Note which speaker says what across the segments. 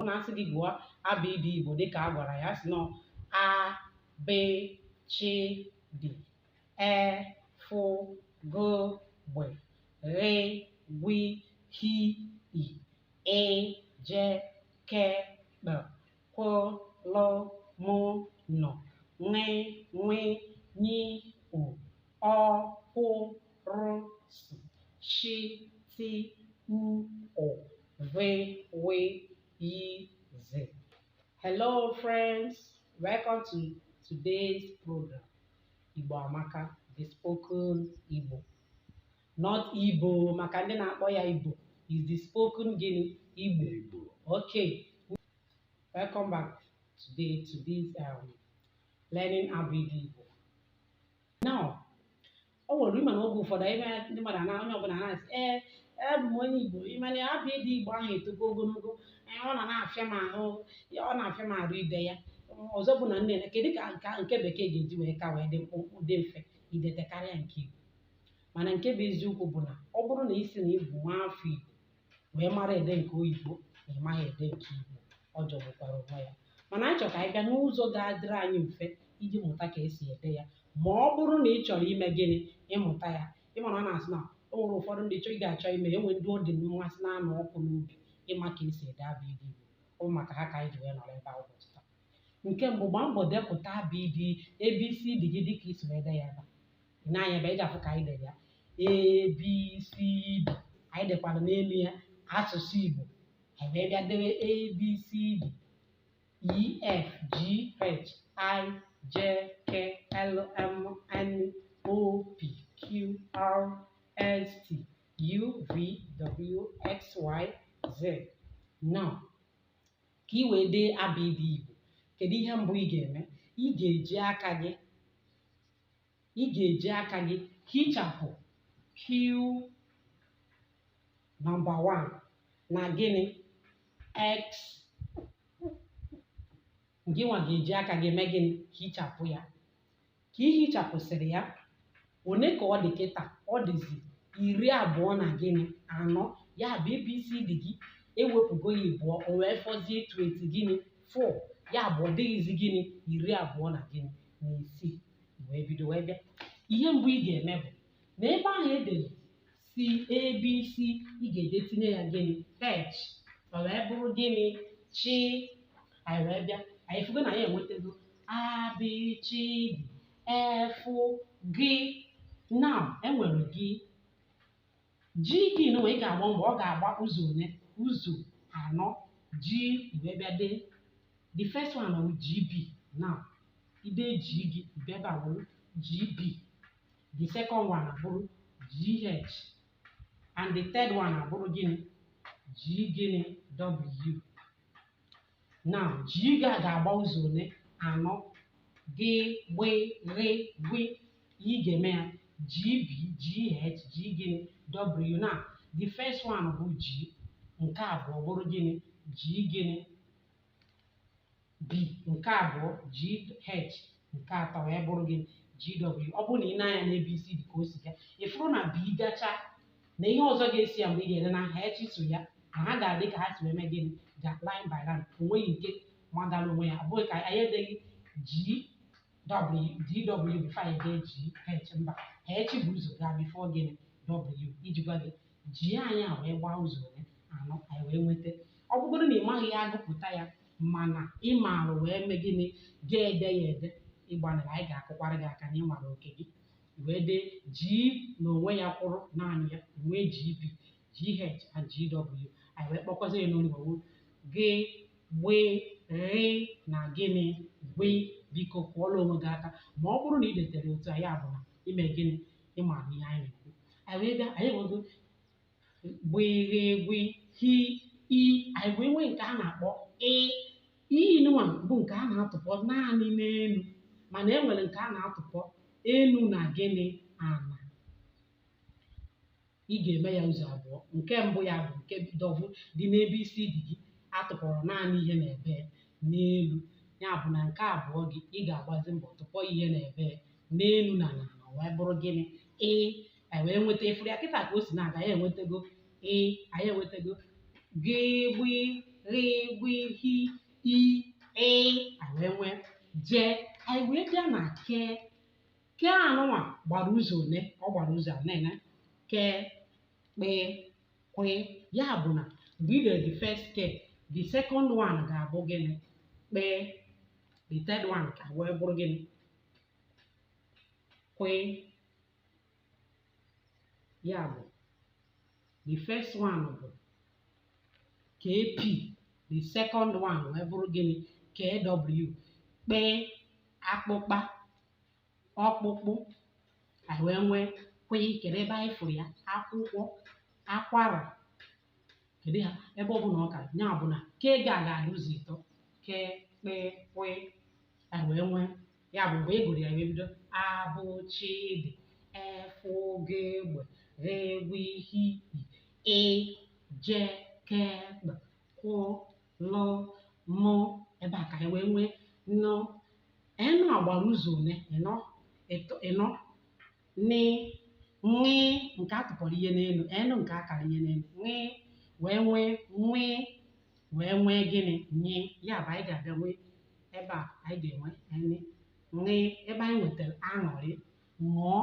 Speaker 1: ọ na-asị gị gụọ abịdị igbo dịka a gwara ya si nọ a b ch d e f g gb r gb h i e j k p q l m n ñ ñ ñ u ọ kwụ rụ s sh t u o ve, we, yi, ze. Hello, friends. Welcome to today's program. Igbo Amaka, the spoken Igbo. Not Ibo, maka ndị na-akpọ ya Ibo. It's the spoken gịnị? Igbo. Igbo. Okay. Welcome back today to this um, learning Abịdị Igbo. Now, o nwere ị ma na oge ụfọdụ ime ndị mmadụ ana onye ọbụla na-asị ee abụ m onye igbo ị ma na abịdị igbo ahụ etogo ogologo ee, ọ na na-afịa m ahụ ya ọ na-afịa m arụ ide ya ọzọ bụ na nne na kedu ka nke nke bekee ga-eji wee ka wee dị mkpụmkpụ dị mfe idete karịa nke igbo mana nke bụ eziokwu bụ na ọ bụrụ na ị sị na ị bụ nwa afọ igbo wee mara ede nke oyibo na ị maghị ede nke igbo ọ jọgbukwara onwe ya mana anyị chọrọ ka anyị bịa n'ụzọ ga-adịrị anyị mfe iji mụta ka esi ede ya ma ọ bụrụ na ị chọrọ ime gịnị ịmụta ya ị ma na a na-asị na o nwere ụfọdụ ndị chọọ ị ga-achọ ime ya e nwee ndị ọ dị mmasị na-anụ ọkụ n'obi ịma ka esi ede abịdị igbo ọ bụ maka ha ka anyị ji wee nọrọ ebe a ụbọchị taa nke mbụ gbaa mbọ depụta abịdị abcd gị dịka i si wee dee ya ebe a. i nee anya ebe ị ga-afụ ka anyị dere ya abcd anyị dekwara n'elu ya asụsụ igbo anyị wee bịa dewe abcd ef g h i j k l m n o p q r s t u v w x y z now ka ị wee dee abịdị igbo kedu ihe mbụ ị ga-eme ị ga-eji aka gị ị ga-eji aka gị hichapụ q nọmba 1 na gịnị x gị nwa ga-eji aka gị mee gịnị hichapụ ya ka ị hichapụsịrị ya one ka ọ dị kịta ọ dịzi iri abụọ na gịnị anọ ya bụ abcd gị ewepụgo ya ịbụọ o wee fọzie 20 gịnị 4 ya bụ ọ dịghịzi gịnị iri abụọ na gịnị na isii wee bido wee bịa ihe mbụ ị ga-eme bụ na ebe ahụ e dere c abc ị ga-eje tinye ya gịnị h o wee bụrụ gịnị ch anyị wee bịa anyị fụgo na anyị enwetago a b ch d e f g now e nwere g G gị nụwa ị ga-agba mbọ ọ ga-agba ụzọ one ụzọ anọ gị wee bịa dee the first one bụ GB now i dee G gị bịa ebe a bụrụ GB the second one abụrụ GH and the third one abụrụ gịnị G gịnị W now g ga ga-agba ụzọ one anọ gị gbị ghị gwị ị ga-eme ya gb gh g gịnị w now the first one bụ g nke abụọ bụrụ gịnị g gịnị b nke abụọ g h nke atọ wee bụrụ gịnị gw ọ bụrụ na i nee anya na abcd ka o si ga ị fụrụ na b gacha na ihe ọzọ ga-esi ya mgbe ị ga-ede na h so ya na ha ga-adị ka ha si eme gịnị ga line by line o nweghị nke magara onwe ya ọ bụghị ka anyị edeghị gw before anyị dee gh mba h bu ụzọ gaa before gịnị w iji gwa gị g anyị a wee gbaa ụzọ one anọ anyị wee nweta ọ bụgodu na ị maghị ya agụpụta ya mana ị maara wee mee gịnị ga-ede ya ede ị gbanịrị anyị ga-akụkwara gị aka na ị nwara oke gị wee dee G n'onwe ya kwụrụ naanị ya nwee GB GH and GW anyị wee kpọkwazi ya n'olu gị gbị ghị na gịnị gwị biko kụọla onwe gị aka ma ọ bụrụ na ị detere otu a ya bụ na i me gịnị ị mara ihe anyị na-ekwu anyị wee bịa anyị nwego gbị ghị gwị hị i anyị wee nwee nke a na-akpọ ị i nụnwa bụ nke a na-atụpọ naanị n'elu mana e nwere nke a na-atụpọ elu na gịnị ana ị ga-eme ya ụzọ abụọ nke mbụ ya bụ nke dịbu dị na abcd gị atụpọrọ naanị ihe na-ebe n'elu ya bụ na nke abụọ gị ị ga-agbazi mbọ tụpọ ihe na-ebe n'elu na n'ala wee bụrụ gịnị ị anyị wee nweta ị fụrụ ya kịta ka o si na-aga ya enwetago ị anyị enwetago gị gbị ghị gwị hị i ị anyị wee nwee je anyị wee bịa na ke ke anụnwa gbara ụzọ one ọ gbara ụzọ a na-ene ke kpe kwe ya bụ na mgbe ị dere the first ke the second one ga-abụ gịnị kpe the third one ka wee bụrụ gịnị kwe ya bụ the first one bụ kp the second one wee bụrụ gịnị kw kpe akpụkpa ọkpụkpụ anyị wee nwee kwe kedu ebe anyị fụrụ ya akwụkwọ akwara kedu ya ebe ọ bụ na ọka ya bụ na ke ga ga-adị ụzọ ịtọ ke kpe kwe anyị wee nwee ya bụ mgbe ị gụrụ ya wee bido a bụ chi dị e fụ gị gbe ghe gwụ hi i ị je ke kpe kwụ lụ mụ ebe a ka anyị wee nwee nụ n a gbara ụzọ one ịnọ ịtọ ịnọ nị ṅị nke atụpọrọ ihe n'elu enụ nke akara ihe n'elu ṅị wee nwee nwị wee nwee gịnị nyị ya bụ anyị ga-abịa nwee ebe a anyị ga-enwe enị ṅị ebe anyị nwetara aṅụrị ṅụọ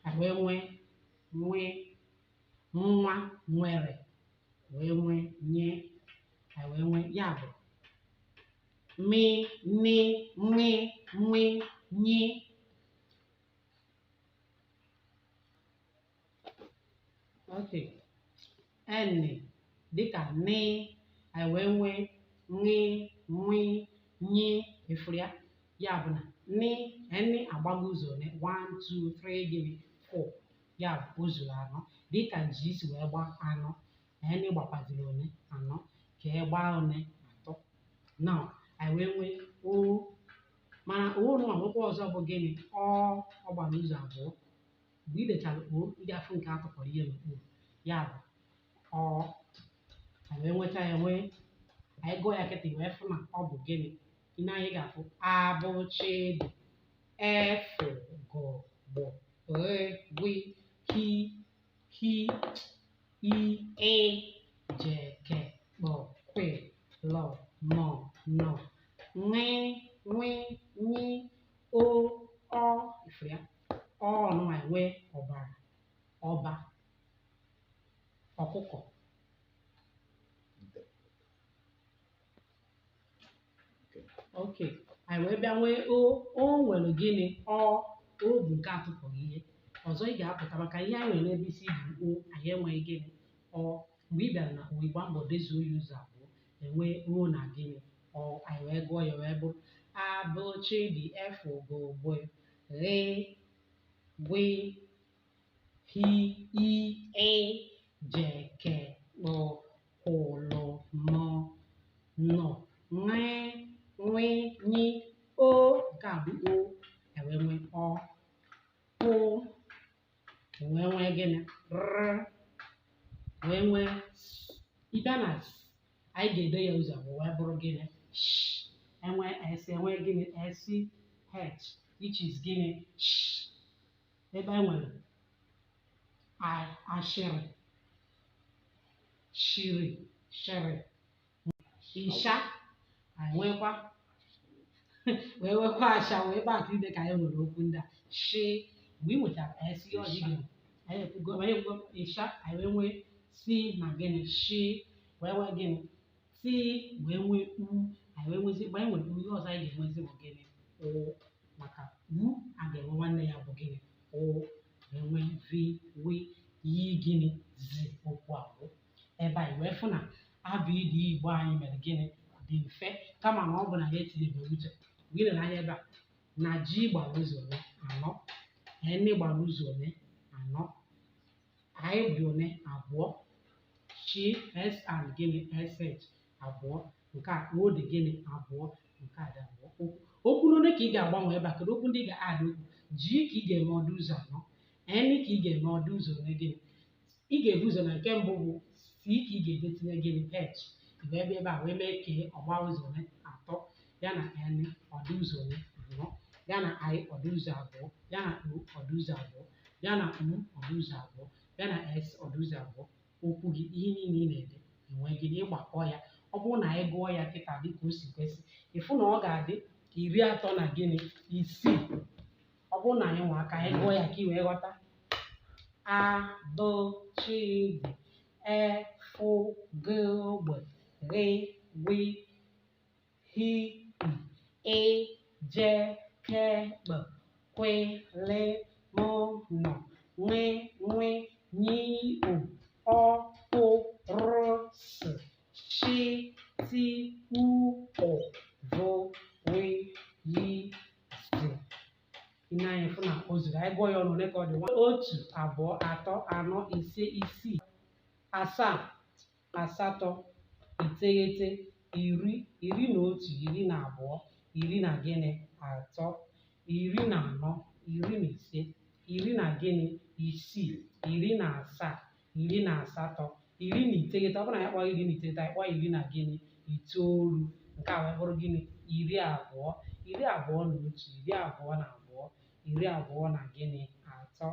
Speaker 1: anyị wee nwee nwị nwa nwere wee nwee nye anyị wee nwee ya bụ mi, ni, ṅi, nwi, nyi. Okay. Ẹnị dịka nị, anyị wee nwee ṅị, nwi, nyi, efuru ya. Ya bụ na nị, ẹnị agbago ụzọ one? One, two, three, gịnị? Four. Ya bụ o zuru anọ. Dịka ji si wee gbaa anọ, enị gbakwaziri one anọ ke agbaa one atọ na anyị wee nwee o mana o nwa nwekwa ọzọ bụ gịnị ọ ọ gbara ụzọ abụọ mgbe ị dechara o ị ga-afụ nke a tụpọrọ ihe n'okpuru ya bụ ọ anyị wee nweta ya nwee anyị gụọ ya kịta wee fụ na ọ bụ gịnị ihe anyị ga-afụ a bụ chị dị e fụ gụ gbụ ghị gwi hi hi i e je ke kpọ kwe lọ mọ nọ ṅị ṅwị nyi o ọ ifuru ya ọ nụwa enwe ọbara ọba ọkụkọ ok anyị wee bịa nwee o o nwere gịnị ọ o bụ nke atụpọghị ihe ọ sọ ya ga-apụta maka ihe anyị nwere n'abc bụ o anyị enweghị gịnị ọ mgbe ị bịara na o ị gbaa mbọ dezuo ya ụzọ abụọ enwee o na gịnị ọ anyị wee gụọ ya wee bụrụ a bụ chi dị e fụ gụ gbụ ghị gwi hi i ị je ke kpụ kwụ lụ mụ nụ ṅị nwi nyi o nke a bụ o e wee nwee ọ pụ e wee nwee gịnị r wee nwe s ị bịa na s anyị ga-ede ya ụzọ abụọ wee bụrụ gịnị sh enwe s enwe gịnị s h which is gịnị sh ebe e nwere a- ashịrị shiri shịrị ịsha anyị nwekwa wee nwekwa asha wee ebe atụ dịka anyị nwere okwu ndị a shi mgbe ị nwechara ka anyị si ihe ọjị gịnị anyị ekwugo anyị ekwugo ịsha anyị wee nwee si na gịnị shi wee nwee gịnị ti wee nwee u anyị wee nwezi mgbe anyị nwere u ihe ọzọ anyị ga-enwezi bụ gịnị ụ maka u a ga-enwe nwanne ya bụ gịnị ụ wee nwee vi wi yi gịnị zi okwu a bụ ebe anyị wee fụ na abịịdịị igbo anyị mere gịnị dị mfe kama ma ọ bụ na ya etinyebe uche mgbe ị lere anya ebe a na ji gbara ụzọ one anọ enị gbara ụzọ one anọ i dị one abụọ chi s and gịnị sh abụọ nke a o dị gịnị abụọ nke a dị abụọ okwu n'one ka ị ga-agbanwe ebe a kedu okwu ndị ị ga-adị okwu g ka ị ga-eme ọ dị ụzọ anọ n ka ị ga-eme ọ dị ụzọ ole gịnị ị ga-ebu ụzọ na nke mbụ bụ c ka ị ga-edetinye gịnị h wee bịa ebe a wee mee k ọ gbaa ụzọ ole atọ ya na n ọ dị ụzọ ole anọ ya na i ọ dị ụzọ abụọ ya na o ọ dị ụzọ abụọ ya na u ọ dị ụzọ abụọ ya na s ọ dị ụzọ abụọ okwu gị ihe niile ị na-ede enwee gịnị ịgbakọ ya ọ bụrụ na anyị gụọ ya kịta dị ka o si kwesị ị fụ na ọ ga-adị ka iri atọ na gịnị isii ọ bụrụ na anyị nwaa ka anyị gụọ ya ka ị wee ghọta a b ch d e f g gb gh gw hi e je ke b kwe le mo no nwe nwe nyi u ọ po ro s shi ti u o vo we yi zi ihe anyị fụ na o zuru anyị gụọ ya ọnụ ole ka ọ dị otu abụọ atọ anọ ise isii asaa asatọ iteghete iri iri na otu iri na abụọ iri na gịnị atọ iri na anọ iri na ise iri na gịnị isii iri na asaa iri na asatọ iri na iteghete ọ bụrụ na ya kpọọ iri na iteghete anyị kpọọ iri na gịnị itoolu nke a wee bụrụ gịnị iri abụọ iri abụọ na otu iri abụọ na abụọ iri abụọ na gịnị atọ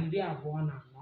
Speaker 1: iri abụọ na anọ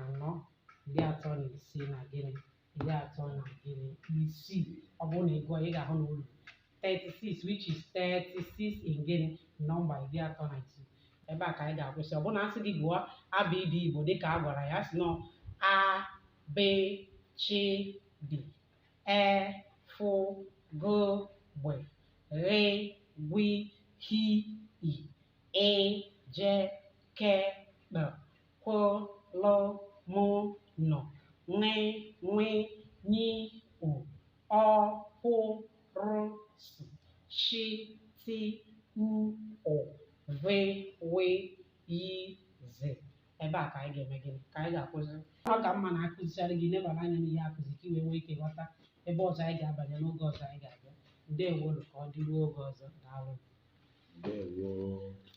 Speaker 1: anọ iri atọ na isii na gịnị iri atọ na gịnị isii ọ bụrụ na ị gụọ ị ga-ahụ na o ru 36 which is 36 in gịnị nọmba iri atọ na isii ebe a ka anyị ga-akwụsị ọ bụrụ na a sị gị gụọ abịịdị igbo dịka a gwara ya sị nọ a b ch d e f g gb gh gw h i ị j k kp kw, l, m, n, ṅ, nw, ny, o, ọ, p, r, s, sh, t, u, ụ, v, w, y, z. Ebe a ka anyị ga-eme gịnị? Ka anyị ga-akwụsị. Ọ ka mma na a kụzichara gị nebara anya n'ihe a kụzi ka i wee nwee ike ghọta ebe ọzọ anyị ga-abanye n'oge ọzọ anyị ga-abịa. Ndewo ka ọ dịruo oge ọzọ. Daalụ. Ndewo.